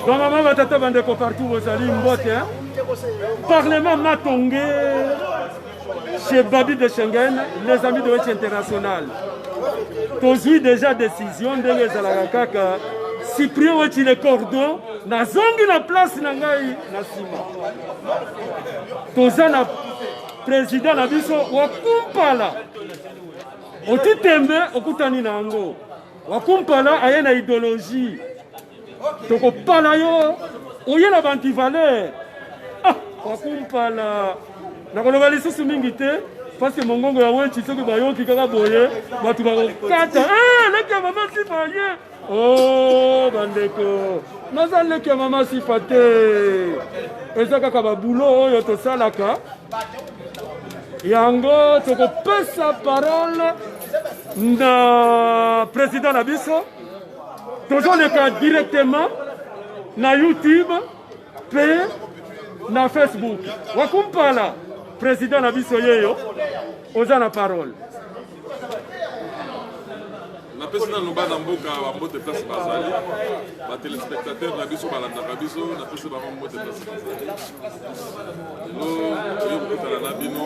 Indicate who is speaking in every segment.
Speaker 1: bamama batata bandeko partout bozali mbote parlement matonge chez babi de schengen les amis de wetch international tozwi déjà décision ndenge ezalaka kaka cyprien wetchi le cordon nazongi na place na ngai na nsima toza na président na biso wakumpala otitembe okutani na yango wakumpala aye na idologie tokopala yo oye na bantivaleur ah, wakumpala nakoloba lisusu mingi te parce que mongongo ya weci soki bayoki kaka boye bato bakokata ah, leki ya mama sifa ye o oh, bandeko naza leki ya mama sifa te eza kaka babulo oyo tosalaka yango tokopesa parole na president na biso tozoleka directement na youtube mpe na facebook wakumpala president na biso yeyo oza na parole
Speaker 2: napesi nanu bana mboka bambote place bazali batelespectateur na biso balandaka biso napesi bango mbote place bazali lelo toye kokutana na bino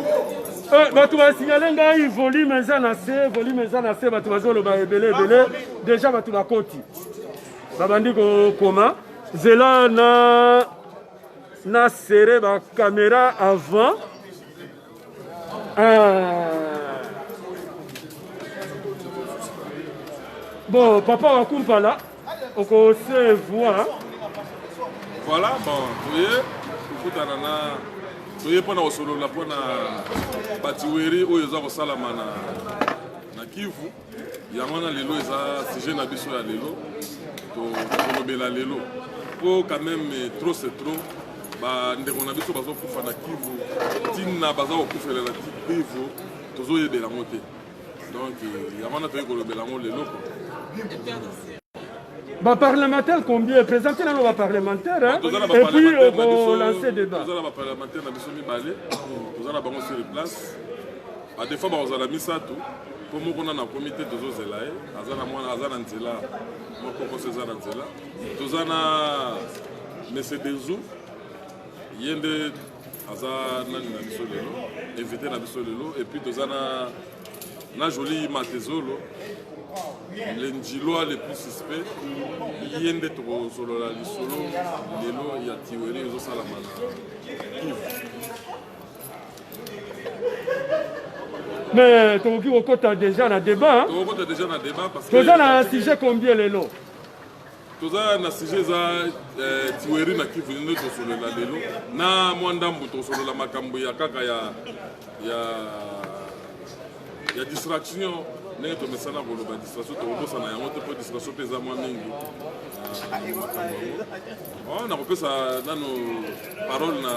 Speaker 2: eh, bato
Speaker 1: basignale ngai volume eza na se volume eza na se bato bazoloba ebele ebele deja bato bakoti babandi kokoma zela na na serre bakamera avant Bon, papa wa kumpala, on se voit.
Speaker 2: Voilà, bon, vous voyez, kokutana na toye mpo na kosolola mpo na batiweri oyo eza kosalama na kivu yango wana lelo eza sujet na biso ya lelo tokolobela lelo po quand même eh, trop c'est trop bandeko na biso bazokufa na kivu ntina baza kokufela na kivu tozoyebela yango te donc eh, yango wana toyei kolobela yango lelo
Speaker 1: baparlementaire combien epresente nano baparlementaire epuis okolance débattoza na baparlementaire na
Speaker 2: biso mibale toza na bango sur place badefa bakozala misato po moko nanu akomi te tozozela ye aza na mwana aza na nzela mokokoso eza na nzela toza na mese denzu ye nde aza nani na biso lelo invité na biso lelo epuis toza na na joli matezolo le njiloa le plus suspect ye nde tokozolola lisolo lelo ya tiweri ezosalama na kivu
Speaker 1: mais tokoki kokota déjà na débat tokokota déjà na débat
Speaker 2: parce que toza na sujet
Speaker 1: combien lelo toza
Speaker 2: na sujet eza eh, tiweri na kivu nde tosolola lelo na mwa ndambo tosolola makambo ya kaka ya ya ya distraction ndenge tomesana koloba distraction tokobosana yango te mpo distraction mpe eza mwa mingi ah, nakopesa nano parole na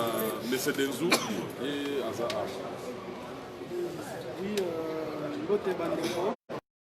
Speaker 2: mese denzu ye aza awa euh,
Speaker 3: mbote bandeko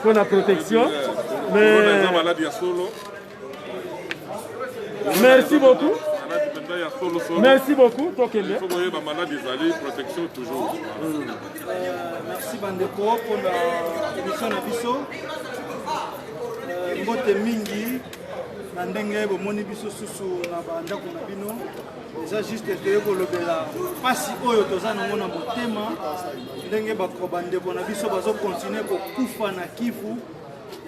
Speaker 2: mpo na protection
Speaker 1: merci beaucoup merci beaucoup tokende
Speaker 3: merci bandeko mpona émission na biso euh, mbote mingi na ndenge bomoni biso susu na bandako na bino eza juste toye kolobela mpasi oyo toza nango na motema ndenge bandeko na biso bazokontinue kokufa na kivu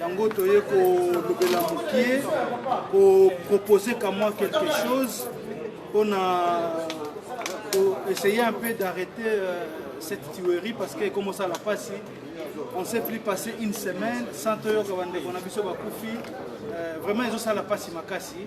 Speaker 3: yango toye kolobela moke kopropose kamwa quelque chose mpona essayer un peu d'arrêter euh, cette tuerie parce que comme ça la passe on s'est plus passé une semaine sans toyoka bandeko na biso bakufi euh, vraiment ezosala mpasi makasi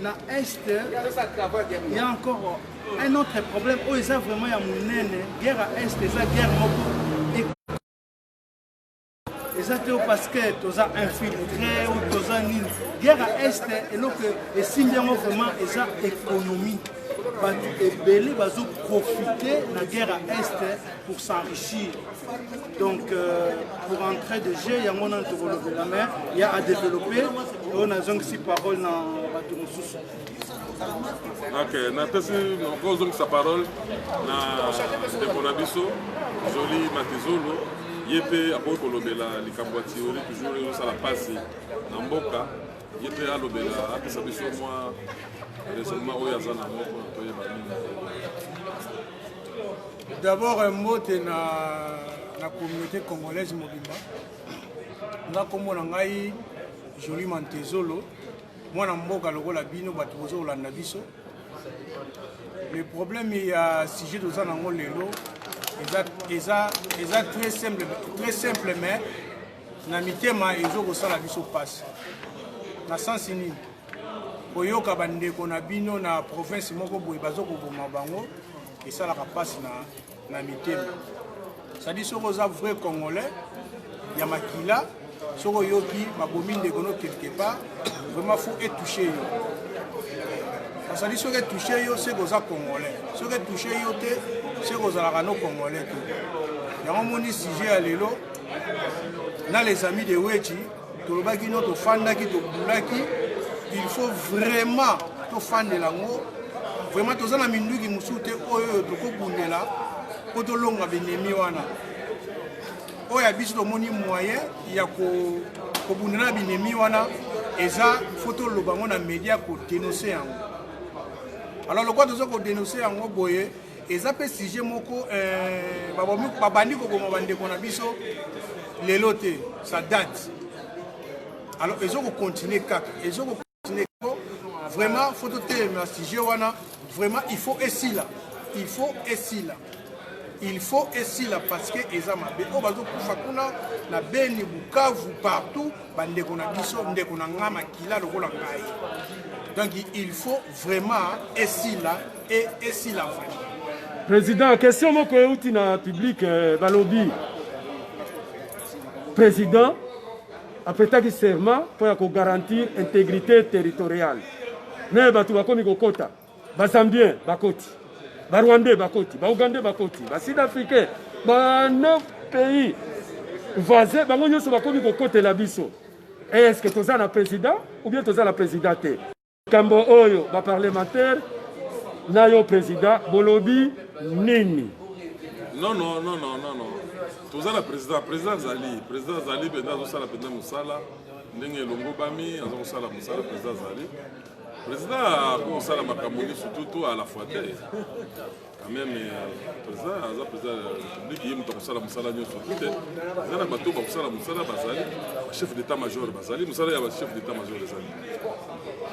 Speaker 3: na est il y a encore un autre problème oyo eza vraiment ya monene guerre ya est eza guerre moko eza te parce que toza infiltré ou toza nini guerre ya est eloko esimbi yango vraiment eza économie bato ebele bazoprofite na guerre ya est pour s'enrichir donc euh, pour entrer de jeu yango nanu tokolobela mais ya adeveloppe oyo nazongisi parole na bato mosusu ok
Speaker 2: napesi kozongisa parole na ndeko na biso joli matizolo ye mpe akoki kolobela likambo ya tiori toujours ezosala mpasi na mboka ye mpe alobela apesa biso mwa raisonnement oyo aza na moko toyeba nini
Speaker 4: D'abord euh, mbote na na communauté congolaise mobimba. Nga kombo na ngai Jolie Mantezolo, mwana mboka lokola bino bato bozo kolanda biso. Le problème ya sujet toza nango lelo eza eza eza très simple très simple mais na mitema ezo kosala biso pasi na sensi nini koyoka bandeko na bino na province moko boye bazo koboma bango esalaka mpasi na, na mitema sadi soki oza vrai congolais ya makila soki oyoki babomi ndeko no quelque part vraiment faut etouche yo basali soki etouche yo seke oza congolais soki etouche yo te seke ozalaka no congolais te yango omoni sujet ya lelo na les amis de wechi tolobaki no tofandaki tobulaki il faut vraiment tofandela yango vraiment toza na minduki mosusu te oyo tokobundela mpo tolonga binemi wana oyo ya biso tomoni moyen ya kobundela na binemi wana eza fo toloba yango na media kodenonse yango alors lokola toza kodenonse yango boye eza mpe sujet moko eh, babandi koboma bandeko na biso lelo te ça date alors ezo kocontinue kaka ezo kocontinue kako vraiment fo totelemela sujet wana vraiment il faut esila il faut esila il faut esila parce que eza mabe oyo bazokufa kuna na beni bukavu partout bandeko na biso ndeko na ngai makila lokola ngai donc il faut Vraiment esila et esila vraiment. Président,
Speaker 1: question moko euti na public euh, balobi. Président apetaki serment mpo ya kogarantir intégrité territoriale me bato bakomi kokota bazambien bakoti barwandais bakoti baougandais bakoti basud africain ba 9 pays voisin bango nyonso bakomi kokotela biso est ce que toza na président ou bien toza na président te Kambo oyo ba parlementaire na yo president bolobi nini? Non
Speaker 2: non non non non non. Toza na president, president azali, president azali mpenza azosala mpenza mosala ndenge elongobami, aza kosala mosala president azali. President akosala makambo nyonso tutu à la fois te. quand même euh, président aza président ya république ye moto akosala mosala nyonso te eza na bato bakosala mosala bazali chef d'état major bazali mosala ya chef d'état major ezali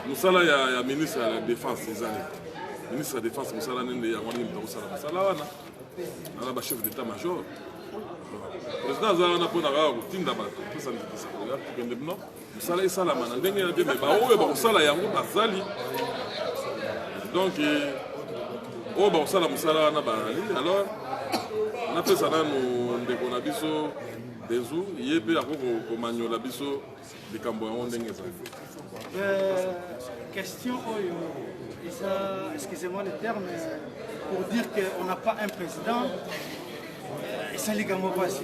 Speaker 2: mosala ya ministre ya défense ezali ministre ya défense mosala nende yango nini moto akosala mosala wana ana ba chef d'état major président aza wana mpo na kaka kotinda bato opesa ndikisa koya tukende bino mosala esalama na ndenge na te me baoyo bakosala yango bazali donc eh, oyo bakosala mosala wana bazali alors napesa nanu ndeko na biso dezu ye mpe akoki komanyola biso likambo yango ndenge ezali euh,
Speaker 3: question oyo eza excusez-moi le terme pour dire qu'on n'a pas un président euh, esali likambo mpasi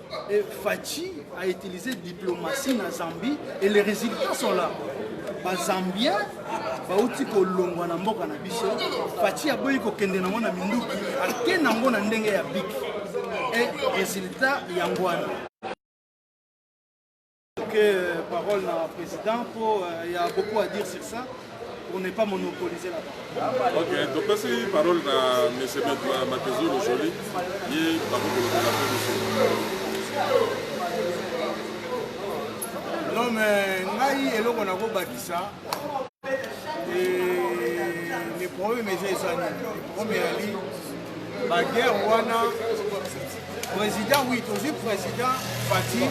Speaker 3: Et Fatshi a utilisé diplomatie na Zambie et les résultats sont là. Ba Zambiens bauti kolongwa na mboka na biso. Fatshi aboyi kokende nango na minduki, ake nango na ndenge ya biki. Et résultat yango wana. Euh, parole na président mpo euh, ya beaucoup à dire sur ça pour ne pas monopoliser la parole. Ok, topesi
Speaker 2: parole na monsieur Makezulu Jolie ye bakokolobela mpe biso.
Speaker 4: Non mais ngai eloko nakobakisa le problème eza eza nini le problème eyali baguerre wana Président, oui, tozwi président Fatih.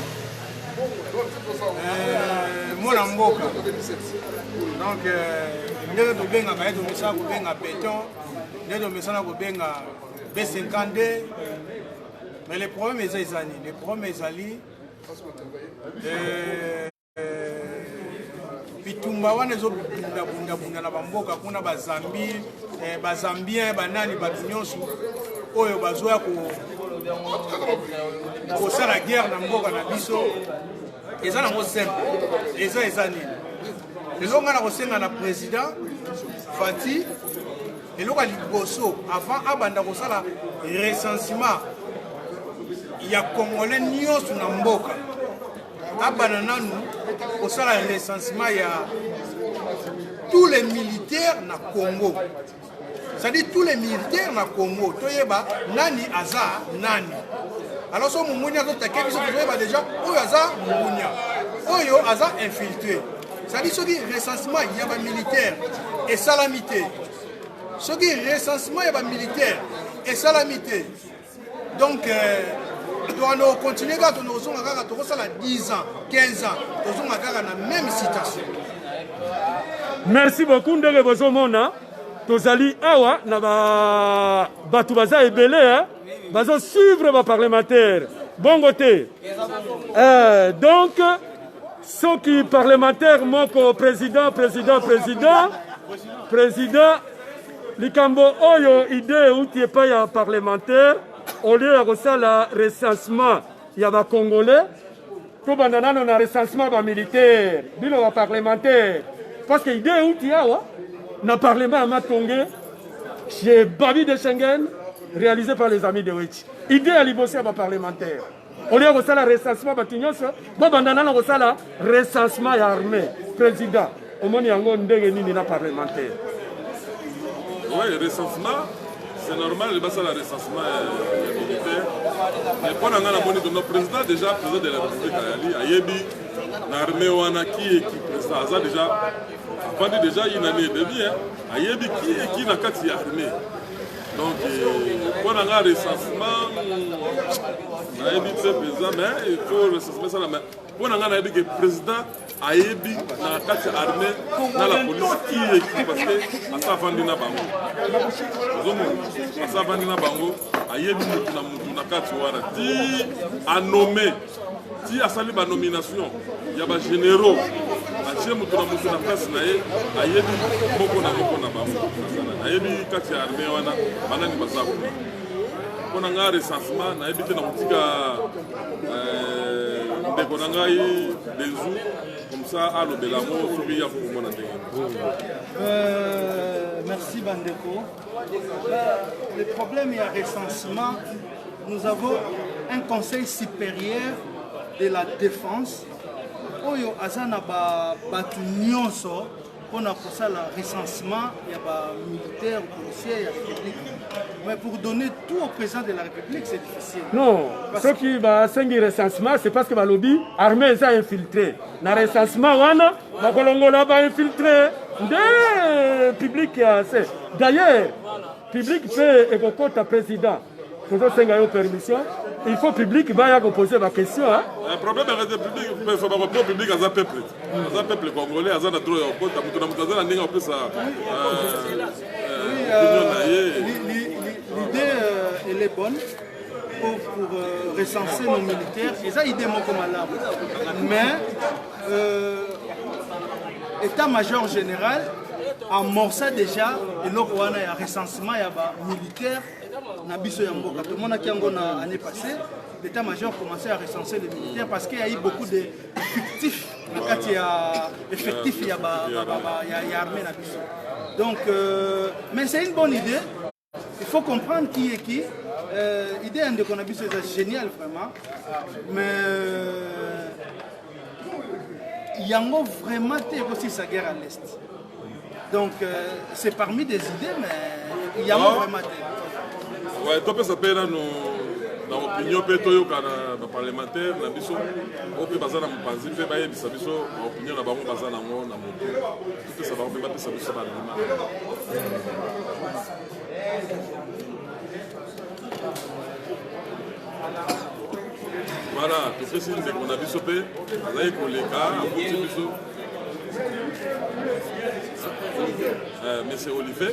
Speaker 4: Euh, mwana mboka donc euh, ndenge tobengaka ye tomesana kobenga béton nde tomesana kobenga b52 mais le problème eza eza nini le problème ezali euh, bitumba wana ezobundabundabunda na bamboka kuna bazambi eh, bazambien banani bato nyonso oyo bazoya kosala guerre na mboka na biso eza nango simple eza eza nini lelo ngai nakosenga na président fati eloko ya liboso avant abanda kosala recensement ya congolais nyonso na mboka abana nanu kosala recensement ya tous les militaires na congo c'est-à-dire tous les militaires na congo toyeba nani aza nani alors so mongonia azotake biso tozoyeba déjà oyo aza mongonia oyo aza infiltré c'est-à-dire soki recensement ya bamilitaire esalami te soki recensement ya bamilitaire esalami te donc euh, toano continue kaka tono kozonga kaka tokosala 10 ans 15 ans tozonga kaka na même citation merci
Speaker 1: beaucoup ndenge bozomona tozali awa na ba bato baza ebele eh? bazo suivre baparlementaire bongo te eh, donc soki parlementaire moko président président président président likambo oyo idee euti epai ya parlementaire au lieu ya kosala recensement ya bacongolais tobanda nano na recensement ya bamilitaire bino baparlementaire parce que idee euti awa na parlement ya matonge chez babi de schengen réalisé par les amis de wechi idee ya liboso ya baparlementaire olie ya kosala recensement bato nyonso bobanda nano kosala recensement ya armée président omoni yango ndenge nini na parlementaire
Speaker 2: oui recensement c'est normal basala recensement ya militaire mais mpo na ngai namoni tono président déjà président de la république ayali ayebi na armée wana kieki président aza déjà afandi déjà une année et demi ayebi kieki na kati ya armée donc mpo euh, na nga recensement nayebi te mpenza mais il faut recensement esala mais mpo na nga nayebi ke président ayebi na kati ya armée na la police qui est qui parce que asa avandi na bango ozomona asa avandi na bango ayebi motu na motu na kati wana ti anome ti asali banomination ya bagénéraux atie moto na moto na place na ye ayebi moko na moko na bango ayebi kati ya armée wana banani baza kuna mpo na ngai recensement nayebi te na kotika euh, ndeko na ngai benzu comme ça alobela yango soki ya kokomona ndenge euh,
Speaker 3: merci bandeko Le problème ya recensement, nous avons un conseil supérieur de la défense oyo aza na bato nyonso mpo na kosala recensement ya bamilitaire policier ya république mais pour donner tout au président de la république c'est difficile non soki
Speaker 1: basengi recensement c'est parce que balobi armée eza infiltré na recensement wana bakolongola ba infiltre nde public ya se d'ailleurs public mpe ekokota président tozosenga yo permission il faut public baya kopose baquestion eh, problème ya radio
Speaker 2: public pefa bakopo public aza peuple aza peuple congolais aza na droit ya kokota moto na moto aza na ndenge ya kopesa opinion na ye
Speaker 3: l'idée euh, elle est bonne pour, pour euh, recenser nos militaires eza idée moko malamu mais Euh, Etat major général amorça déjà eloko wana ya recensement ya ba militaire na biso ya mboka tomonaki yango na année passée l'état major commençait à recenser les militaires parce qu'il y a eu beaucoup de fictifs na kati ya effectif ya, ba, ba, ba, ba, ya, ya armée na biso donc euh, mais c'est une bonne idée Il faut comprendre qui est qui. Euh, idée ya ndeko na biso eza génial vraiment mais euh, yango vraiment te ekosilisa guerre à l'est donc euh, c'est parmi des idées mais yango ah. vraiment te ouais, topesa mpe
Speaker 2: nano na opinion mpe toyoka na baparlementaire na biso oyo mpe baza na mopanzi mpe bayebisa biso baopinion na bango baza nango na motu Pesa bango mpe bapesa biso bandima. Voilà, topesi ndeko na biso mpe azali koleka akuti biso. Eh, Monsieur Olivier.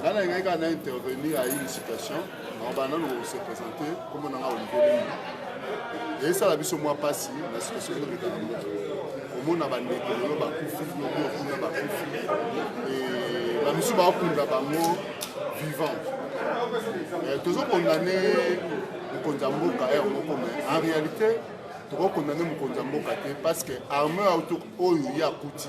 Speaker 5: ngai nalingaki kaka na intervenir à une situation nakoba nano se présente kombo na ngai olivier lengi eyesala biso mwa mpasi na situation ezobeta na moto omona bandeko lelo bakufi lobi okuna bakufi bamisusu bakunda bango vivant eh, tozokondane mokonzi ya mboka ere moko me en réalité tokokondane mokonzi ya mboka te parce que armeur oyo ye akuti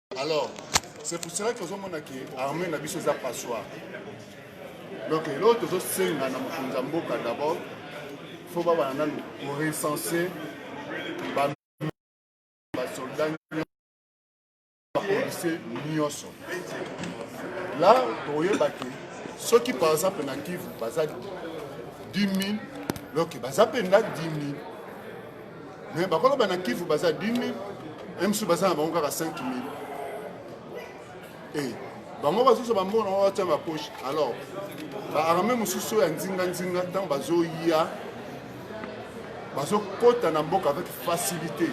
Speaker 5: alors c'est pour cela que ozomona ke armée na biso eza passoire donc eloo tozosenga na mokonzi ya mboka d'abord fo babana nanu korecense basoldat bapolisie nyonso la tokoyeba ke soki par exemple na kivu baza 10 000 donc baza mpenza 10 000 Mais bakolo bana Kivu baza 10000, MSU baza na bango kaka 5000. Eh, bango bazozo bambona oyo atya na poche. Alors, ba armée mosusu ya nzinga nzinga ntango bazoya bazokota na mboka avec facilité.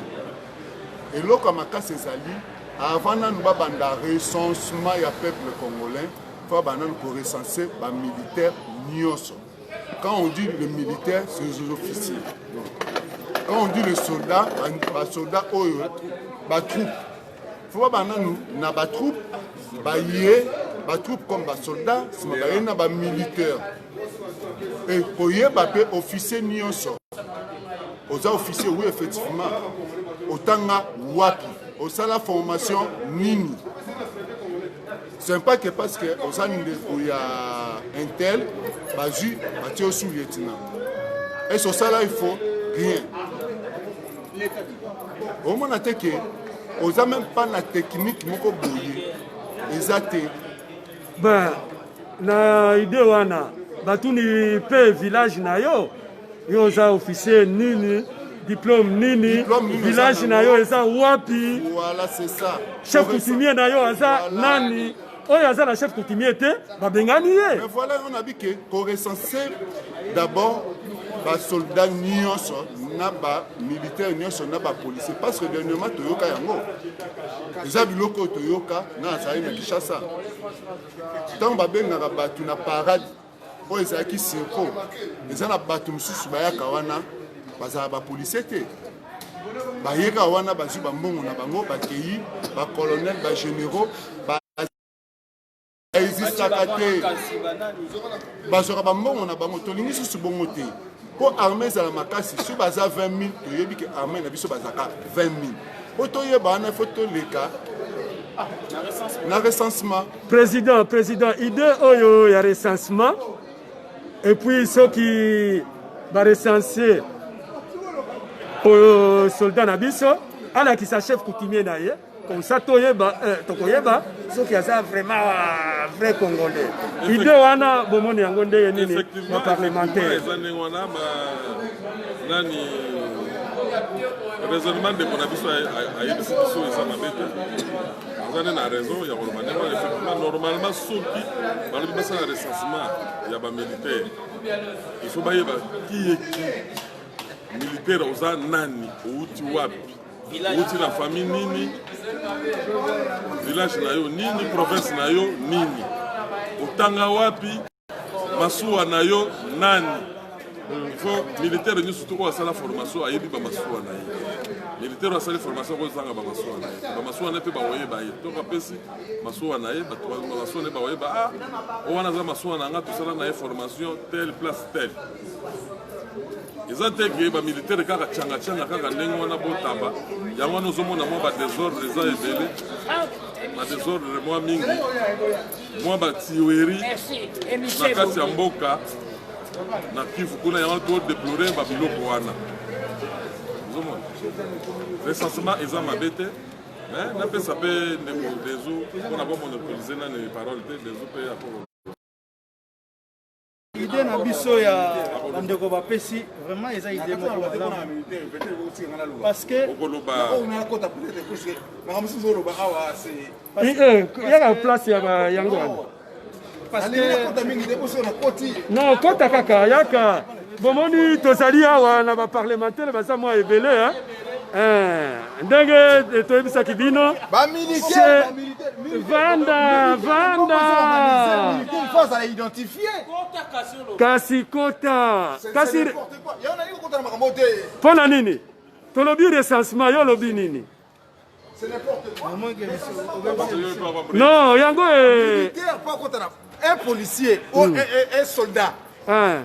Speaker 5: Eloko ya makasi ezali avant nanu babanda recensement ya peuple congolais, fa bananu korecense bamilitaire nyonso. Quand on dit le militaire, c'est les officiers. Quand on dit le soldat, ba soldat oyo, ba troupe. Faut pas bana nous, na ba troupe, ba yé, ba troupe comme ba soldat, c'est ma baye na ba militaire. Et pour yé ba pe officier nyonso. Aux officiers, oui effectivement. Otanga wapi, osala formation nini. Sympa que parce que oza ndeko ya intel bazwi batie yo sous lieutenant ese osala ifo rien omona te ke oza meme pas na technique moko boye eza te ba
Speaker 1: na idée wana batuni mpe village na yo Yo oza officier nini? diplome nini village na yo eza wapi
Speaker 5: chef coutumier na
Speaker 1: yo aza nani oyo aza na chef coutumier te babengani ye
Speaker 5: voilà yo na
Speaker 1: bike
Speaker 5: korecense d'abord basoldat nyonso na bamilitaire nyonso na bapolicier parce que dernièrement toyoka yango eza biloko oyo toyoka na azali na kinshasa ntango babengaka bato na parade oyo ezalaki circo eza na bato mosusu bayaka wana bazala bapolisie te bayeka wana bazwi bambongo na bango bakei bacolonel bagénéraux baexistaka te bazwaka bambongo na bango tolingi susu bongo te mpo arme ezala makasi soki baza 20 000 toyebi ke arme na biso bazalaka 20 000 mpo toyeba wana fo toleka ah, na recensement président président
Speaker 1: idée oyo ya recensement et puis soki barecensie oyo soldat na biso alakisa chef coutumier na ye comme ça toyeba euh, tokoyeba soki aza vraiment euh, vrai congolais idée wana bomoni yango ndenge nini na parlementaire eza ndenge wana nani
Speaker 2: raisonnement ndeko na biso ayebisi biso eza mabe te aza nde na raison ya koloba ndenge wana effectivement normalement soki balobi basala recensement ya bamilitaire il faut bayeba kiyeki militaire oza nani outi wapi Uti na famille nini? Village na yo nini? Province na yo nini? Otanga wapi? Masuwa na yo nani? Il faut militaire nyonso to oyo asala formation ayebi bamasuwa na ye. Militaire asali formation akozanga bamasuwa na ye. Bamasuwa na ye mpe bakoyeba ye. To bapesi masuwa na ye, bato bamasuwa na ye bakoyeba ah, oyo wana aza masuwa na nga tosala na ye formation telle place telle. eza te ke bamilitaire kaka tiangatianga kaka ndenge wana botaba yango wana ozomona mwa badesordre eza ebele badesordre mwa mingi mwa batiweri na kati ya mboka na kivu kuna yango todeplore babiloko wana ozomona recensement eza mabe te mais napesa mpe ndeko dezo mpona bomonopolize nani parole te dezo mpe akolo
Speaker 3: idée na biso ya bandeko bapesi vraiment eza idée moko malamu
Speaker 1: parce que yaka place ya yango wana
Speaker 3: non kota
Speaker 1: kaka yaka bomoni tozali awa na baparlementaire baza mwa ebele Eh, ndenge eh, toyebisaki bino vanda vanda kasi kota kasi mpo na nini tolobi recensement yo olobi nini non yango eh. un
Speaker 6: policier ou hmm. un soldat hein.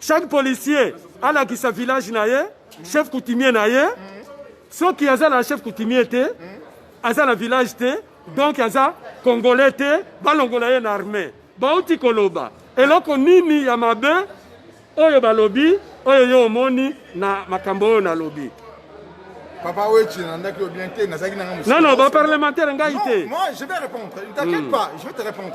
Speaker 1: Chaque policier alakisa village na ye, chef coutumier na ye. Soki aza na chef coutumier te, aza na village te, donc aza congolais te, balongola ye na armée. Bauti koloba eloko nini ya mabe oyo balobi oyo yo omoni na makambo oyo nalobi? Papa
Speaker 6: Wechi, nandaki bien te, nazaki nanga
Speaker 1: Non, non, ba parlementaire ngai te. Moi, je vais répondre.
Speaker 6: Ne t'inquiète hmm. pas, je vais te répondre.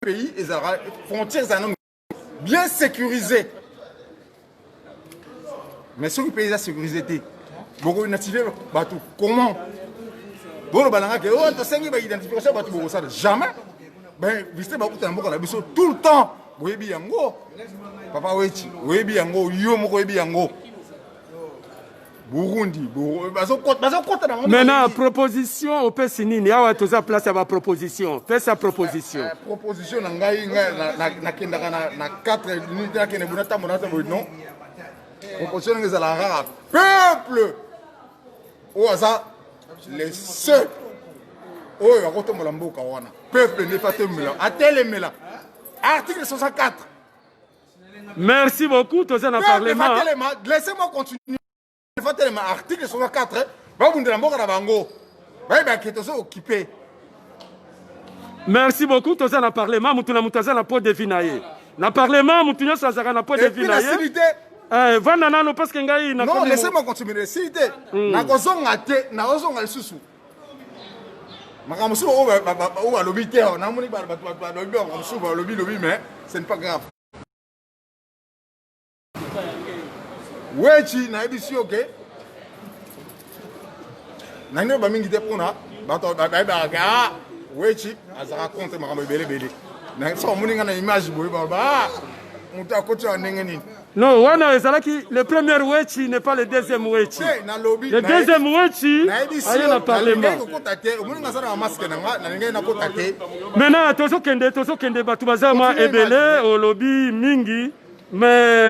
Speaker 6: pays ezalaka frontière ezala nanu bien sécurisé mais soki pays eza sécurisé te bokoidentifie bato comment boloba na nga ke o oh, tosengi baidentification bato bokosala jamais bainvestir bakuta na mboka na biso tout le temps boyebi yango papa weti oyebi yango yo moko oyebi yango burundi bazokota nango maintenant
Speaker 1: proposition opesi nini awa toza place ya baproposition pesa proposition eh, proposition na ngai
Speaker 6: nakendaka na 4 minute nakende buna ntango nata boye non proposition ndenge ezala kaka peuple oyo aza le seul oyo akotombola mboka wana peuple nde atelemela atelemela article 64
Speaker 1: Merci beaucoup, toza na parlement. Telema, laissez-moi
Speaker 6: continuer. Fa telema article 64, ba bundela mboka na bango. Ba ba ke tozo occuper.
Speaker 1: Merci beaucoup, toza na parlement, mutu na mutu aza na pot de vie na ye. Na parlement, mutu nyoso azaka na pot de vie na ye. Et puis la Eh, vanda nano parce que ngai na Non, laissez-moi continuer.
Speaker 6: Silite. Mm. Na kozonga te, na ozonga lisusu. makambo mosusu oyo balobi te namoni bato balobi makambo mosusu balobi lobi mais ce n'est pas grave wechi nayebisi yo ke nani oyo bamingi te mpona bato bayebaka ke a wechi azalaka contre makambo ebele ebele na so bamoni ngai na image boye baloba moto akoti ya ndenge nini Non, wana ezalaki
Speaker 1: le premier Wetshi n'est pas le deuxième Wetshi. Le deuxième Wetshi aye na parlement. Maintenant tozo kende tozo kende batu baza ma ebele olobi mingi mais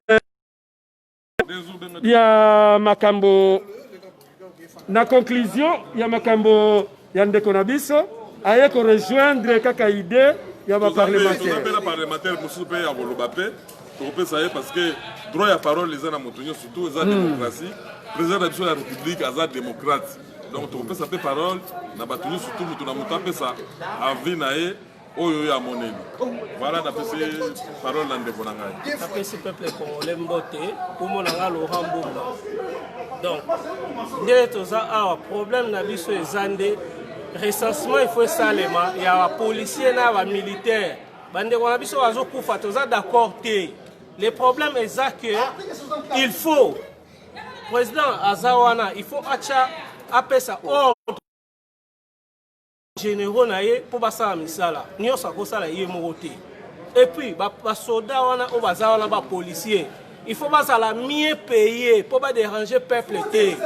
Speaker 1: ya makambo Na conclusion ya makambo ya ndeko na biso aye ko rejoindre kaka idee ya ba parlementaire. Toza pe na parlementaire mosusu
Speaker 2: pe ya koloba pe tokopesa ye parce que droit ya parole eza na moto nyonso surtout eza hmm. démocratie président na biso ya république aza démocrate donc tokopesa pe parole na bato nyonso surtout moto na moto apesa avis na ye oyo oyo amoneli vala napesi parole na ndeko na ngai napesi peuple congolais
Speaker 7: mbote kombo na ngai laurent mbumba donc nde toza awa problème na biso eza nde recensement il faut esalema ya bapolicier na bamilitaire bandeko na biso bazokufa toza d'accord te le problème eza que il faut président aza wana il faut atya apesa ordre generaux na ye mpo basala misala nyonso akosala ye moko te epuis basoda wana oyo baza wana bapolicier il faut bazala mieux paye mpo baderange peuple te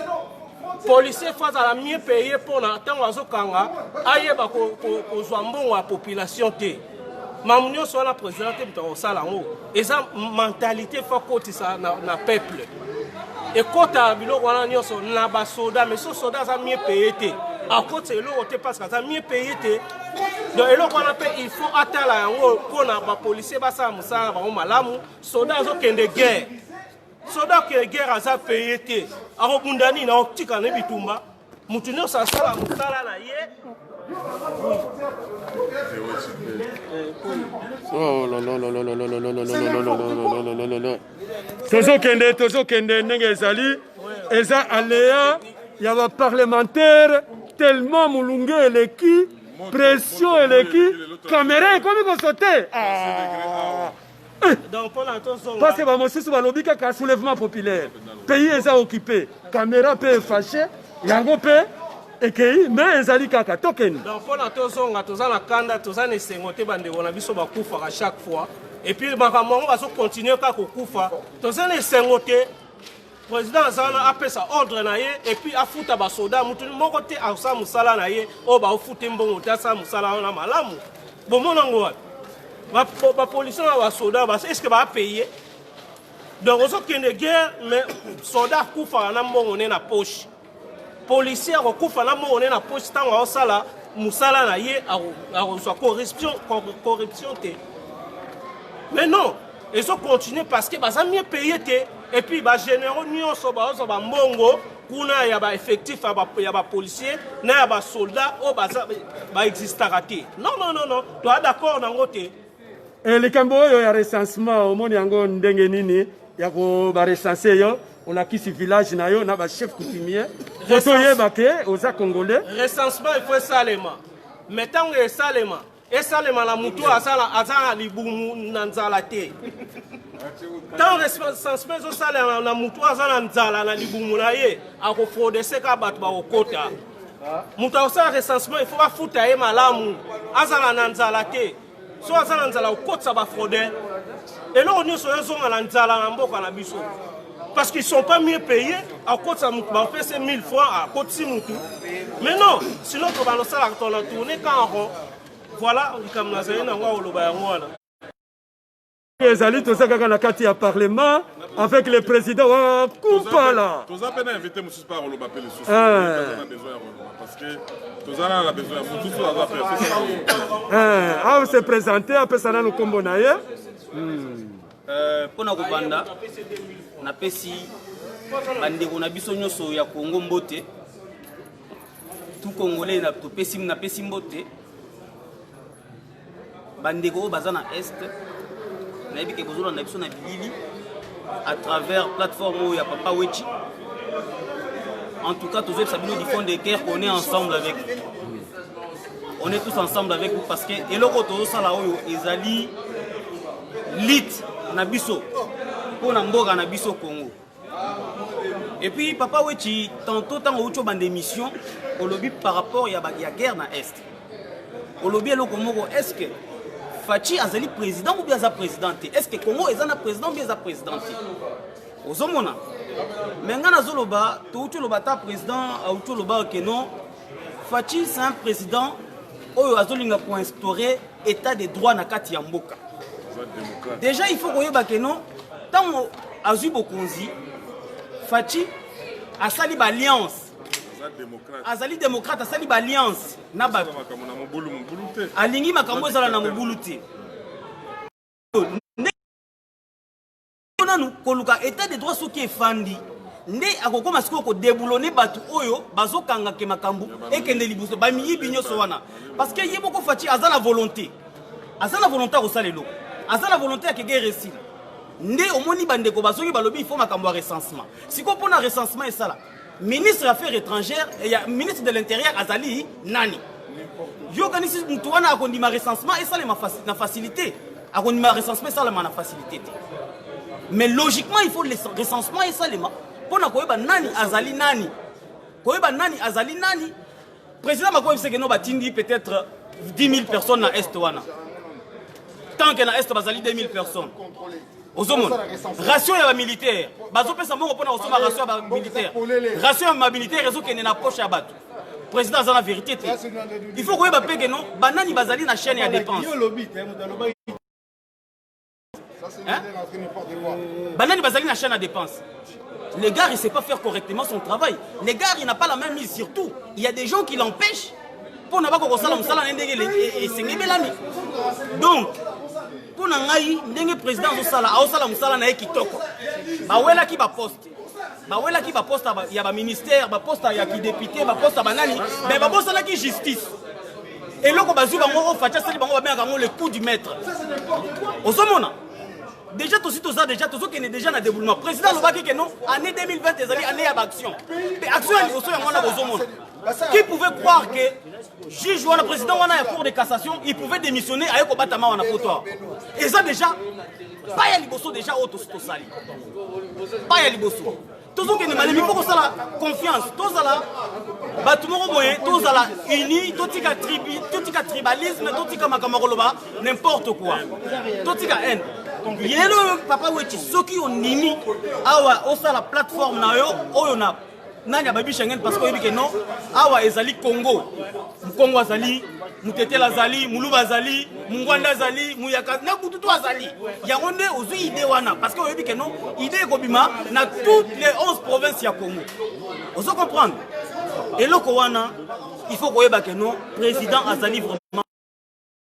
Speaker 7: policier fo azala mieux paye mpona ntango azokanga ayeba kozwa mbongo ya population te mamu nyonso wana président te moto akosala yango eza mentalité fo akotisa na, na peuple ekota biloko wana nyonso na basoda mais so soda aza mie paye te akotisa eloko te parce que aza mie paye te donc eloko wana mpe il faut atala yango mpo na bapolisier basala mosala na bango malamu soda azokende guerre soda akende guerre aza paye te akobunda nini akotika na bitumba moto
Speaker 1: nyonso asala mosala na ye tozokende tozokende ndenge ezali eza alea ya baparlementaire tellement molunge eleki pression eleki kamera ekomi kosote ah. parce que bamosusu balobi kaka soulèvement populaire pays eza occupe camera mpe efashe yango mpe ekei me ezali kaka tokende donc mpona tozonga
Speaker 7: toza na kanda toza na esengo te bandeko na biso bakufaka chaque fois epuis makambo yango bazokontinue kaka kokufa toza na esengo te president aza wana apesa ordre na ye epuis afuta basoda motu moko te asala mosala na ye oyo baofute mbongo te asala mosala wana malamu bomona yango wapi bapolisier na basoda eske baapaye donc ozokende guerre mais soda akufaka na mbongo ne na poche policier akokufa na mbongo ne na poche ntango aosala mosala na ye akozwa corruption, corruption te mais non ezo continue parce que baza mieux paye te et puis bagénéraux nyonso baozwa bambongo kuna ya baeffectif ya bapolicier na ya basoldat oyo baexistaka te non non non non toa d'accord na yango te Eh, likambo
Speaker 1: oyo ya recensement omoni yango ndenge nini ya koba recense yo olakisi village na yo na bachef coutumier po toyeba ke oza congolais recensement ifo
Speaker 7: esalema mai ntango esalema esalema na motu aza na libumu na nzala te ntango recensement ezosalema na motu aza na nzala na libumu na ye akofrodeseka bato bakokota moto akosala recensement il faut bafuta ye malamu azala na nzala te so aza na nzala okotisa bafraude eloko nyonso oyo ezonga na nzala na mboka na biso parce qu'ils sont pas mieux payés akotisa motu bapesi 1000 francs akotisi motu mais non sinon tobanda osalaka tona tourne quand rond voilà likambo nazali nango akoloba yango wana ezali
Speaker 1: toza kaka na kati ya parlement avec le président wa kumpala toza mpe na invité
Speaker 2: mosusu mpe akoloba mpe lisusu eh. besoin ya koloba parce que toza nana na besoin ya mosusu aza mpe eh, a se présente
Speaker 1: apesa nanu nkombo na ye hmm. eh, mpo
Speaker 8: na kobanda napesi bandeko na biso nyonso ya kongo mbote tu congolais napesi mbote bandeko oyo baza na est nayebi ke bozolanda biso na bilili à travers plateforme oyo ya papa wechi en tout cas tozoyebisa bino du fond de cœur on est ensemble avec on est tous ensemble avec vous parce que eloko tozosala oyo ezali lit na biso mpo na mboka na biso congo Et puis papa Wechi, tantôt tant outi obanda émission, olobi par rapport ya ba ya guerre na est. Olobi eloko moko est-ce que Fatshi azali président ou bien aza président te? Est-ce que Congo eza na président ou bien eza président te? Ozomona? Mais nga nazoloba, to outi oloba ta président, outi oloba que non, Fatshi c'est un président oyo azolinga ko instaurer etat de droit na kati ya mboka deja il faut koyeba ke non ntango azwi bokonzi faci asali baalliance azali démocrate asali baalliance na bato alingi makambo ezala na mobulu te nanu koluka etat de droit soki efandi nde akokoma sikoyo kodeboulone bato oyo bazokanga ke makambo ekende liboso bamiyibi nyonso wana parce que ye moko faci aza na volonté aza na volonté akosala eloko aza na volonté ya kege resila nde omoni bandeko bazongi balobi ifo makambo ya recensement sikoyo mpo na recensement esala ministre ya affaire étrangère eh, ya ministre de l'intérieur azali nani yo okanisi moto wana akondima recensement esalema na facilité akondima recensement esalema na facilité te mais logiquement il faut recensement esalema mpo na koyeba nani azali nani koyeba nani azali nani Président Macron yebisa que non batindi peut-être 10 000 personnes na est wana. Tant que na est bazali 2 000 personnes. ozomona ratio ya bamilitaire bazopesa mbongo mpo na kosomba ratio ya bamilitaire ratio ya bamilitaire ezokende na poche ya bato président aza na vérité te il faut koyeba mpe keno banani bazali na chaîne ya dépense banani bazali na chaîne ya dépense le gars il sait pas faire correctement son travail le gars il n'a pas la même mise surtout il y a des gens qui l'empêchent mpo na bako kosala mosala na ye ndenge e- e- esengebelami donc mpo na ngai ndenge président azosala aosala mosala na ye kitoko bawelaki baposte bawelaki baposte ya baministère baposte ya kidepute baposte ya banani me babosanaki justice eloko bazwi bango oyo faci asali bango babengaka yango le coup du maître ozomona déjà tosi toza déjà tozokende déjà na déboulement président alobaki ke non année 2020 ezali année ya baaction mpe action ya liboso yango wana bozomona qui pouvait croire que juge wana président wana ya cour de cassation il pouvait démissionner aye kobatama wana poto eza déjà pas ya liboso déjà oyo tosi tosali pas ya liboso tozokende malemi mpo kosala confiance tozala bato moko boye tozala uni totika tribi totika tribalisme totika makambo ya koloba n'importe quoi totika haine yelo papa weti soki onimi awa osala plateforme na yo oyo na nani ababi Schengen parce que oyebi que non awa ezali Congo Mkongo azali mutetele azali muluba azali mungwanda azali muyaka na kutu to azali yango nde ozwi ide wana parce que oyebi ke non ide ekobima na toutes les 11 provinces ya congo ozo comprendre eloko wana il faut koyeba ke non président azali vraiment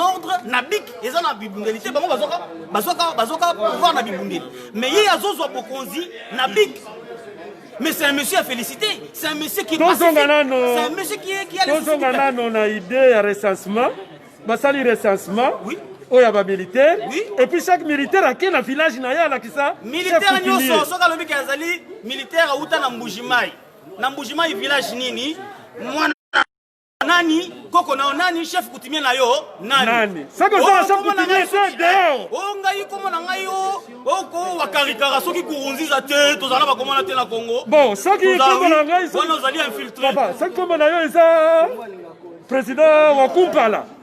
Speaker 8: ordre na bik eza na bibundeli te bango bazoka bazoka bazoka pouvoir na bibundeli mais ye azozwa bokonzi na bik mais c'est un monsieur à féliciter c'est un monsieur qui tozonga nano c'est un
Speaker 1: monsieur
Speaker 8: qui qui a tozonga nano na
Speaker 1: idée ya recensement basali recensement oui oyo ya
Speaker 8: bamilitaire
Speaker 1: oui. et puis chaque
Speaker 8: militaire
Speaker 1: ake na village na ye alakisa militaire nyonso
Speaker 8: soki alobiki azali militaire auta na mbujimai na mbujimai village nini mwana nani koko na nani chef
Speaker 1: coutumier na
Speaker 8: yo
Speaker 1: nani
Speaker 8: soki
Speaker 1: ozala
Speaker 8: chef
Speaker 1: coutumier
Speaker 8: te
Speaker 1: dehors
Speaker 8: o
Speaker 1: oh,
Speaker 8: ngai komo na ngai o oh, oko oh, wakarikara soki kurunziza te tozala bakomona te na congo bon soki kombo
Speaker 1: na ngai wana ozali infiltre
Speaker 8: soki kombo na yo
Speaker 1: eza président wa kumpala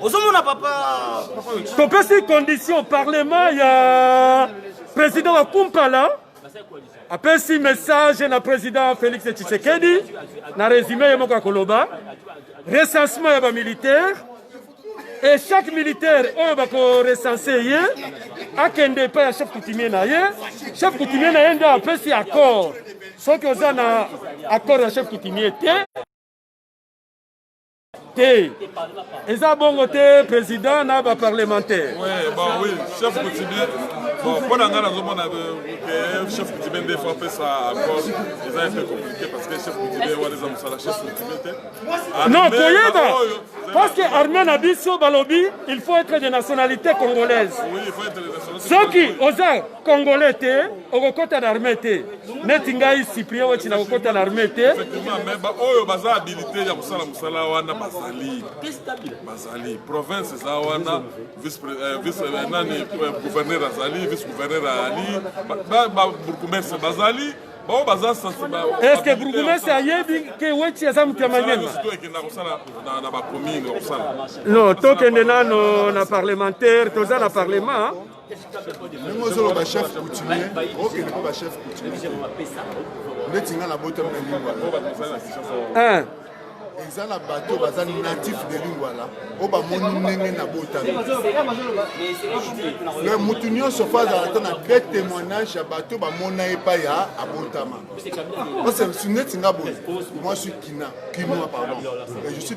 Speaker 8: ozomona papa topesi
Speaker 1: condition parlement ya président wa kumpala apesi message na président félix tshisekedi na résumé ye moko ya koloba recensement ya bamilitaire et chaque militaire oyo bakorecense ye akende epai ya chef coutumier na ye chef coutumier na ye nde apesi accord soki oza na accord ya chef coutumier te te eza bongo te président na baparlementaire mpo na ngai nazomona euh,
Speaker 2: chef coutumier nde fo apesa accord eza un peu compliqué parce que chef coutumier wana eza mosala chef coutumier te non
Speaker 1: koyeba parce que armée na biso balobi il faut être de nationalité congolaise
Speaker 2: soki oza
Speaker 1: congolais te okokota na armée te neti ngai cyprien weti na kokota na arme te baoyo
Speaker 2: baza habilite ya kosala mosala wana bazali bazali province eza wana vicenani eh, eh, gouverneur azali vice gouverneur ali babourgmestre bazali bao baza eske bourgmestre ayebi ke weti aza moto ya maniemaekenda kosala na bacommune kosala non tokende nano na parlementaire toza na parlement ndenge
Speaker 5: ozoloba chef coutumier okende mpo bachef coutumier ndeti ngai nabotami na lingwala eh. eza na bato baza natif de lingwala oyo bamoni ndenge nabotami me motu nyonso fa azala ata na de témoignage ya bato bamona epai ya abotama parce neti nga boye moi suis kina kinois pardon je suis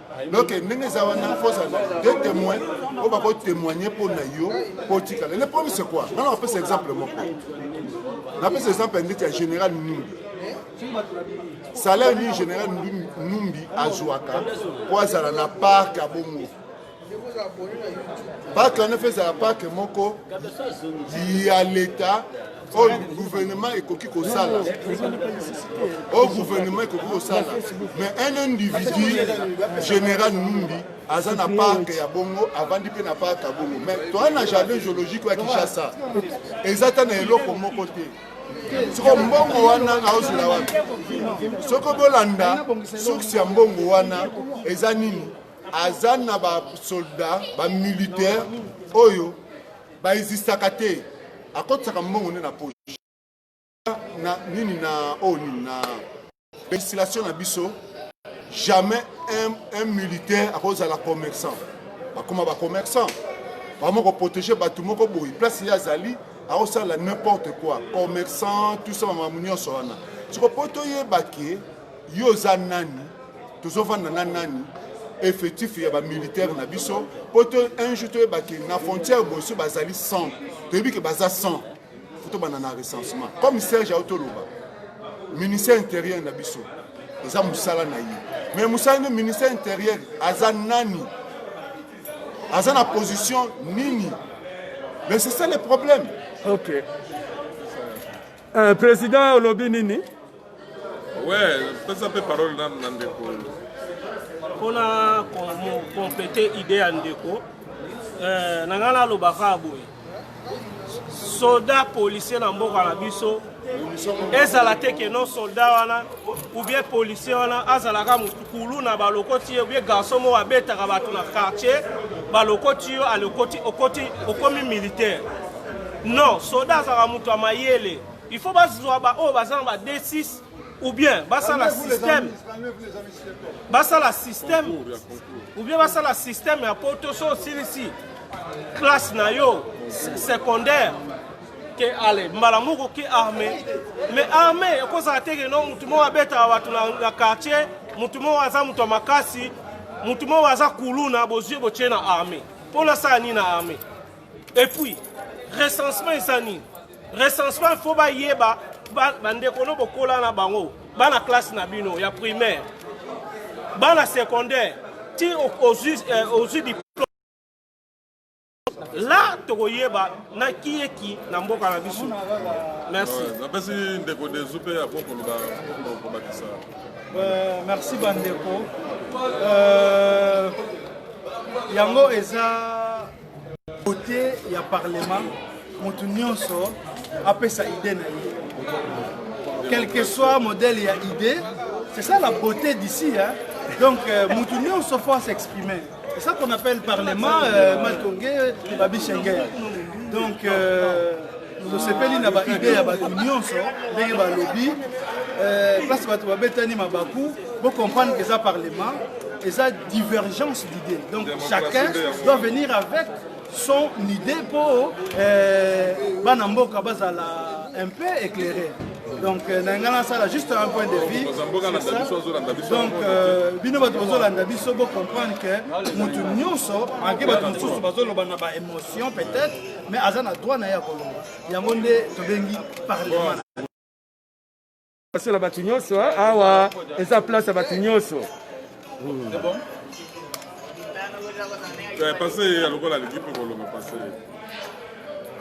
Speaker 5: donc ndenge eza wana fosa de témoin oyo bako témoigne mpo na yo mpo otikala le problème c'est quoi ngana napesa exemple moko napesa exemple ya ndeti ya général numbi salaire nini général numbi azwaka mpo azala na parc ya bongo parc wana mpe ezala parc moko ya leta oyo gouvernement ekoki kosala oyo gouvernement ekoki kosala mais un individu général numbi aza na parke ya bongo avandi mpe na parke ya bongo mais toa na jardin géologique ya kinshasa eza ta na eloko moko te soko mbongo wana aozela wapi soko bolanda source ya mbongo wana eza nini aza na basoldat bamilitaire oyo Ba existaka te. Akotisaka mbongo nde na poche. Na nini na o oh, nini na legislation na biso jamais un, un militaire akozala commerçant bakoma bacommerçant vraiment koprotege bato moko boye place ye azali akosala n'importe quoi commerçant tout ça makambo nyonso wana soko mpo toyeba ke yo oza nani tozofanda na nani effectif ya bamilitaire na biso mpo to un jour toyeba ke na frontière boye so bazali 100 toyebi ke baza 100 fo tobanda na recensement comme serge auti oloba ministère intérieur na biso eza mosala na ye mais mosala nde ministère intérieur aza nani aza na position nini mais c'est ça le problème okay.
Speaker 1: Eh, president olobi nini we
Speaker 2: pesa mpe parole nanu na ndeko
Speaker 7: mpona complete idée ya ndeko eh, na ngai nalobaka boye soda policier na mboka na biso ezala te ke non soldat wana ou bien policier wana azalaka motu kuluna balokoti ye obie garçon moko abetaka bato na quartier balokoti yo alokoti okoti okomi militaire non soda azalaka moto ya mayele il faut bazwa baoyo baza na ba d6 ou bien basala système basala système ou bien basala système ya poto so osilisi classe na yo secondaire ke ale mbala moko ke arme me arme ekozala te keno motu moko abetaka bato na quartier motu moko aza moto ya makasi motu moko aza kuluna bozwi botie na arme mpo nasala nini na arme epuis recensement eza nini recensement fo bayeba bandeko no bokola na bango bana classe na bino ya primaire bana secondaire ti ozwi eh, diplome la tokoyeba na kiyeki na mboka na biso merci napesi ndeko
Speaker 2: desu mpe ako koloba kobakisa euh,
Speaker 3: merci bandeko euh, yango eza kote ya parlement moto nyonso apesa ide na ye quel que soit modèle ya ide c'est ça la beauté d'ici hein? donc euh, moto nyonso faut s'exprimer C'est ça qu'on appelle parlement, euh, Matongue, Babi Schengen. Donc, euh, tosepeli na baide ya bato nyonso ndenge balobi euh, place bato babetani mabaku bocomprendre que eza parlement eza divergence d'idée donc chacun doit venir avec son idée mpo eh, bana mboka bazala un peu éclairé donc euh, na ngai nasala juste un point de vue donc euh, bino bato bozolanda biso bocomprendre que motu nyonso ake bato mosusu bazoloba na baémotion peut-être mais aza na droit na ye ya koloba yango nde tobengi parlement
Speaker 1: Passion na bato nyonso hein? awa eza place ya bato nyonso
Speaker 2: hmm. eh, pase ye lokola alingi mpe kolonga pase ye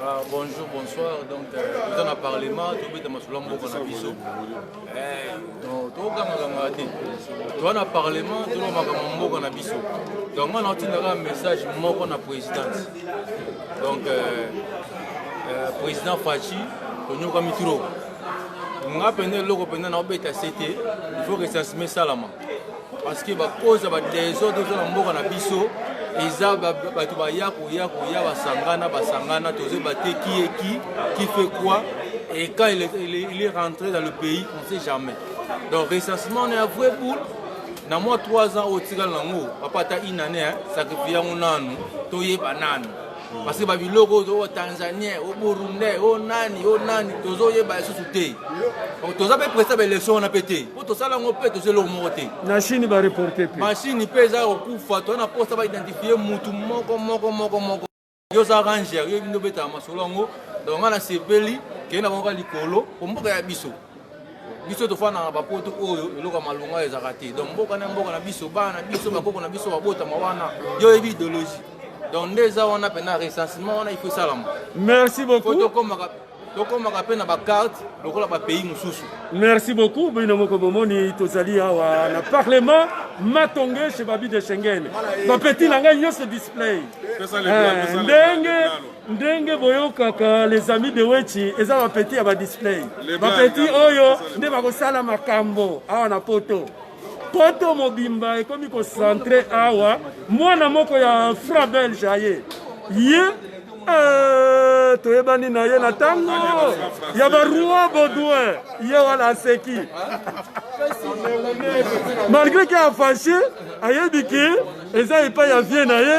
Speaker 2: Ah, bonjour,
Speaker 9: bonsoir. Donc, euh, dans le Parlement, tout le monde a beaucoup de bisous. Donc, tout le monde a dit. Tout le Parlement, tout le monde a beaucoup de bisous. Donc, moi, j'ai un message moi pour la présidence. Donc, euh, euh, président Fachi, nous avons trop. nga mpenza eloko mpenza naobeta se te ifaut recensement esalama parce que bakoza badesordre oza na mboka na biso eza bato baya koya koya basangana basangana tozo bate qui est qui qui fait quoi et quand il est, il est, il est rentré dans le pays on sait jamais donc recensement on est à vrai boule na mwa 3 ans oyo otikala nango papa ata inane sacrifie yango nanu toyeba nanu parce que babiloko oyo o tanzanien o burundais o nani o nani tozoyeba lisusu te toza mpe presta baélection wana mpe te mpo tosala yango mpe toza eloko moko te na chine bareporte
Speaker 1: mpe machine mpe eza kokufa
Speaker 9: toza na posta baidentifie motu moko moko moko moko yo oza ranger yo ebindi obetaka masolo yango donc nga nasepeli kei na bango ka likolo mpo mboka ya biso biso tofandaka na bapoto oyo eloko ya malonga ezalaka te donc mboka na mboka na biso bana na biso bakoko na biso babotama wana yo oyebi idéologie donc nde eza wana mpena recensement wana ifo esalama merci beaucoup
Speaker 1: tokomaka tokomaka
Speaker 9: mpe na bakarte lokola bapays mosusu merci beaucoup
Speaker 1: bino moko bomoni tozali awa na parlement matonge chez babi de schengen bapeti na ngai nyonso display eh, ndenge ndenge boyokaka les amis de wechi eza bapeti ya badisplay bapeti oyo nde bakosala makambo awa na poto poto mobimba ekomi kocentre awa mwana moko ya fra belge aye ye eh, toyebani na ye na ntango ya baroi baudouin ye wana aseki malgré ke afashe ayebi ke eza epai ya vie na ye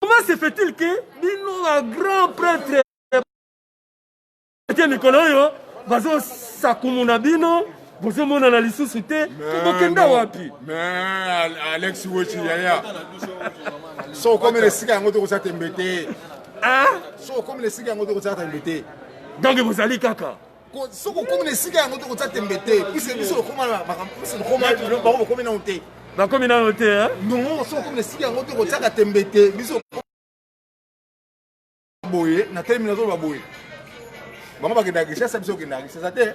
Speaker 6: Comment
Speaker 1: se fait-il que bino ba grand prêtre te mikolo oyo bazosakumuna bino bozomonana lisusu te bokenda wapi
Speaker 6: alex wechi yaya so okomela esika yango tokosa tembe te ah? so okomela esika yango tokosa tembe te donc bozali
Speaker 1: kaka soki okomi na
Speaker 6: esika yango te kotya tembe te pise biso lokomabakomi nano te bakomi nano te
Speaker 1: non soki okomi na esika
Speaker 6: yango te kotyaka tembe te biso boye na telemi nazoloba boye bango bakendaka kishasa biso okendaka kishasa te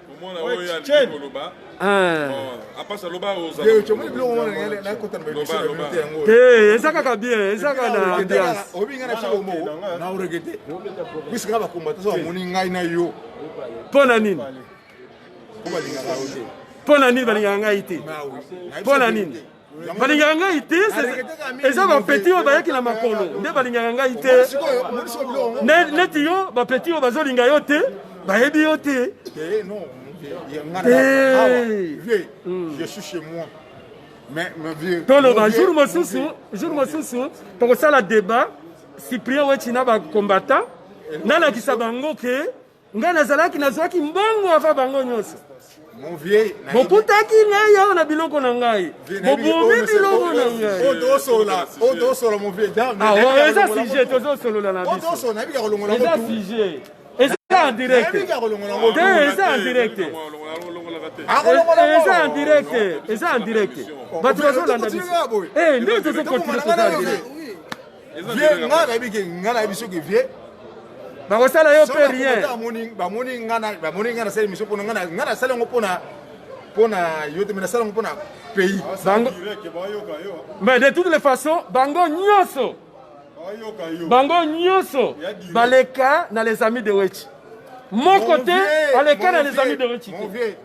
Speaker 2: Eh,
Speaker 1: eza kaka bien eza kaka
Speaker 6: na ambiance mpo na nini
Speaker 1: mpo na nini balingaka ngai te mpo na nini balingaka ngai te eza bapeti oyo bayaki na makolo nde balingaka ngai te neti yo bapeti oyo bazolinga yo te bayebi yo te
Speaker 6: eh, eh. Hmm. toloba jour mosusu
Speaker 1: jour mosusu tokosala débat cyprien weti na bacombattant nalakisa bango ke Ngai nazalaki nazwaki mbongo ava bango nyonso bokutaki ngai awa na biloko na ngai bobomi biloko na ngaieza
Speaker 6: ah, sujet
Speaker 1: tozosolola na biso eza sujet eza en direct te eza en direct eza en direct eza en direct bato bazolanda biso eh, nde tozokontinue toza en direct vie nga nayebi ke
Speaker 6: nga nayebi soki vie bakosala
Speaker 1: yo mpe rien
Speaker 6: bamoni nga nasala émission mpona nga nasala yango mpona mpona yo te me nasala yango mpona pays
Speaker 1: mais de toutes les façons bango nyonso bango nyonso baleka na les amis de wechi moko te aleka na les amis de wechi te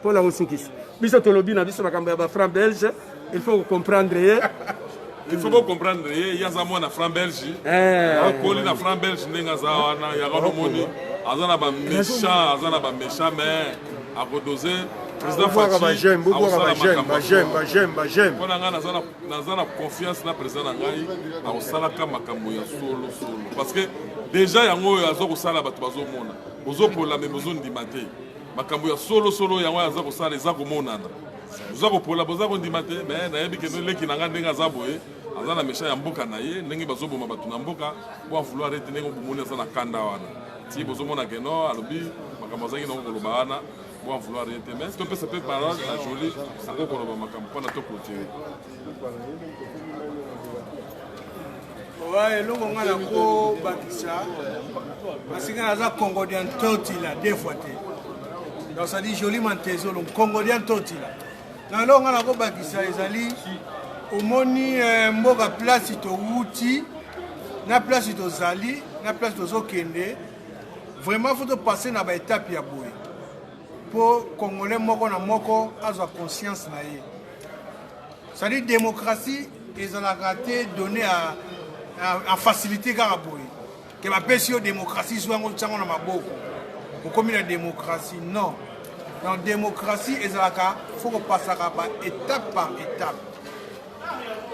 Speaker 1: mpo na kosukisa biso tolobi na biso makambo ya bafranc belge il faut kocomprendre ye il faut
Speaker 2: bocomprendre ye ye aza mwana franc belge eh. akoli na franc belge ndenge aza wana yango nomoni aza na baméchant aza na baméchant mais akodose président fatipona ngai naza na confiance na président na ngai akosalaka makambo ya solo solo parce que déjà yango oyo aza kosala bato bazomona bozopola me bozondima te makambo ya solo solo yango aza kosala eza komonana oza kopola boza kondima te me nayebi kende leki na ngai ndenge aza boye aza na mesha ya mboka na ye ndenge bazoboma bato na mboka po avouloir ete ndenge obomoni aza na kanda wana ti bozomona ke no alobi makambo azalaki nango koloba wana po avouloir ye te mais topesa mpe parole na joli akoki koloba makambo mpona to clotire
Speaker 4: owa eloko ngai nakobakisa kasi ngai naza congodian totila deux fois te donc sadi joli mantezolo congodian totila na eloko ngai nakobakisa ezali omoni eh, mboka place towuti na place tozali na place tozokende vraiment fo topasse na baetape ya boye mpo congolais moko na moko azwa conscience na ye cetadi démocratie ezalaka te donné a, a, a facilité kaka boye ke bapesi yo démocratie zwa yango tyango na maboko okomi na démocratie non donc démocratie ezalaka fo kopasaka ba étape par étape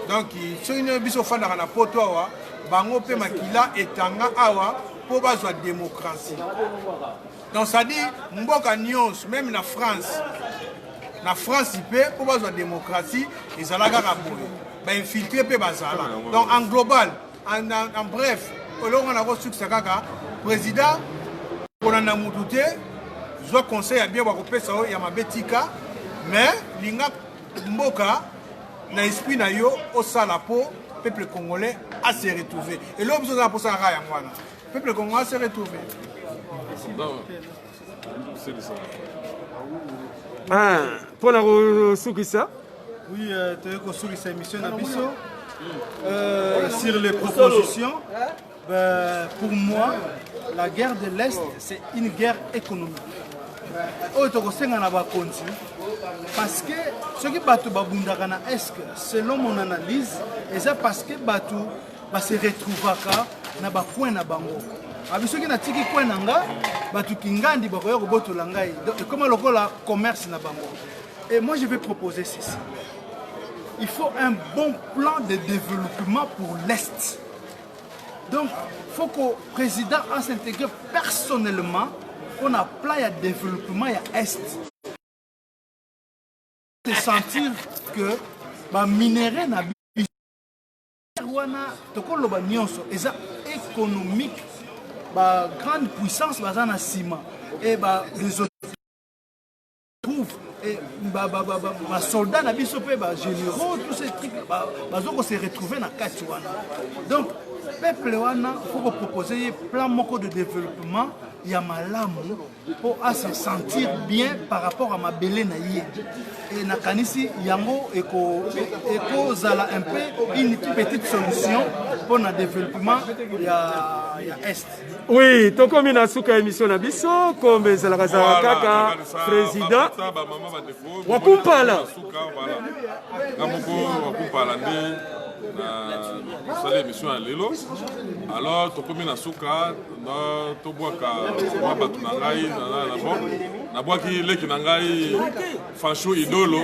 Speaker 4: donc soki nde biso ofandaka na poto awa bango mpe makila etanga awa mpo bazwa démocratie donc ça dit mboka nyonso meme na france na france mpe mpo bazwa démocratie ezala kaka boye bainfiltre mpe bazala donc en global en, en, en bref eloko wana kosukisa kaka président kolanda motu te zwa conseil ya bien bakopesa yo ya mabe tika mais linga mboka na esprit na yo osala mpo peuple congolais ase retrouve eloko biso ozala mposala kaka yango wana Peuple congolais se retrouver. Non. C'est le
Speaker 1: Ah, mpo na kosukisa oui euh,
Speaker 3: toyei kosukisa émission na biso euh, sur les propositions ben, pour moi la guerre de l'est c'est une guerre économique oyo oh, tokosenga na bakonzi parce que soki bato babundaka na eske selon mon analyse eza parce que bato ba se retrouvaka na ba coin na bango abi soki natiki coin na nga bato kingandi bakoya kobotola ngai ekoma lokola commerce na bango et moi je vais proposer ceci il faut un bon plan de développement pour l'est donc faut que président a s'intégrer personnellement mpo na plan ya développement ya est te sentir que baminerais na wana tokoloba nyonso eza économique ba grande puissance baza na nsima e ba basoldat na biso mpe bagénéraux tout ce truc bazo ko se retrouver na kati wana donc peuple wana faut kopropose ye plan moko de développement ya malamu mpo a se sentir bien par rapport à mabele na ye e nakanisi yango ekozala e, e un peu une petite solution mpo na développement ya, ya est oui tokomi
Speaker 1: na suka ya émission na biso kombe ezalaka zalaka kaka président wakumpala nga moko wakumpala nde na sali émission ya lelo alors tokomi na suka na tobwaka mwa bato na ngai na bon nabwaki leki na ngai fashu idolo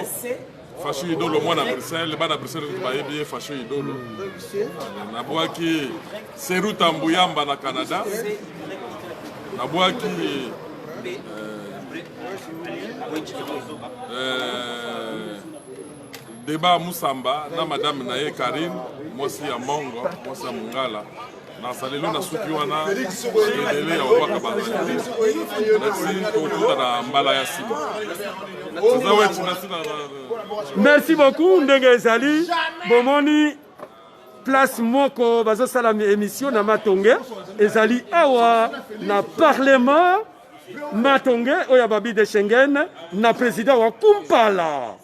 Speaker 1: fashu idolo mwana bruxelles bana bruxelles bayebi ye fashu idolo nabwaki seruta mbuyamba na canada nabwaki euh, deba musamba na madame na ye karine mwasi ya mongo mwasi ya mongala nasalelo na suki wana ebele ya obaka bazali nasi tokuta na mbala ya nsima eza weti nasi na merci beaucoup ndenge ezali bomoni place moko bazosala émission na matonge ezali awa na parlement matonge oyo ya babi de schengen na président wa kumpala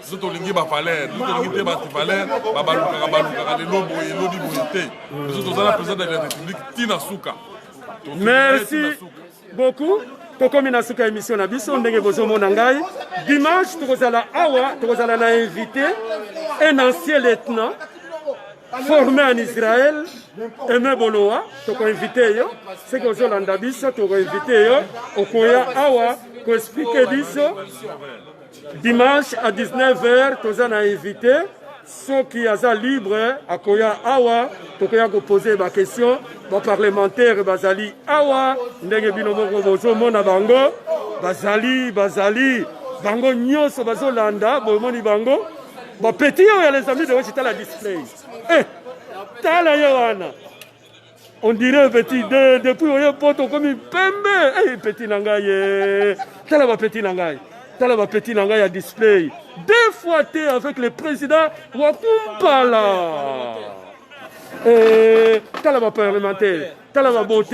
Speaker 1: biso tolingi bavalere biso tolingi te bato valere babalukaka balukaka lelo boye elobi boye te biso toza na président de la république ti na suka merci beaucoup tokomi na suka émission na biso ndenge bozomona ngai dimanche tokozala awa tokozala na invité un ancien lieutenant formé en israël eme bolowa tokoinvite yo soki ozolanda biso tokoinvite yo okoya awa koexplike biso Dimanche à 19h, toza na invité. soki aza libre akoya awa tokoya kopose baquestion baparlementaire bazali awa ndenge bino moko bozomona bango bazali bazali bango nyonso bazolanda bomoni bango bapeti oyo ya les amis de wechitala display eh, tala ye wana On dirait petit de depuis oye poto okomi pembe hey, petit na ngai ye tala ba petit na ngai tala ba petit na ngai ya display deux fois te avec le président wa kumpala hey, tala ba parlementaire tala ba beauté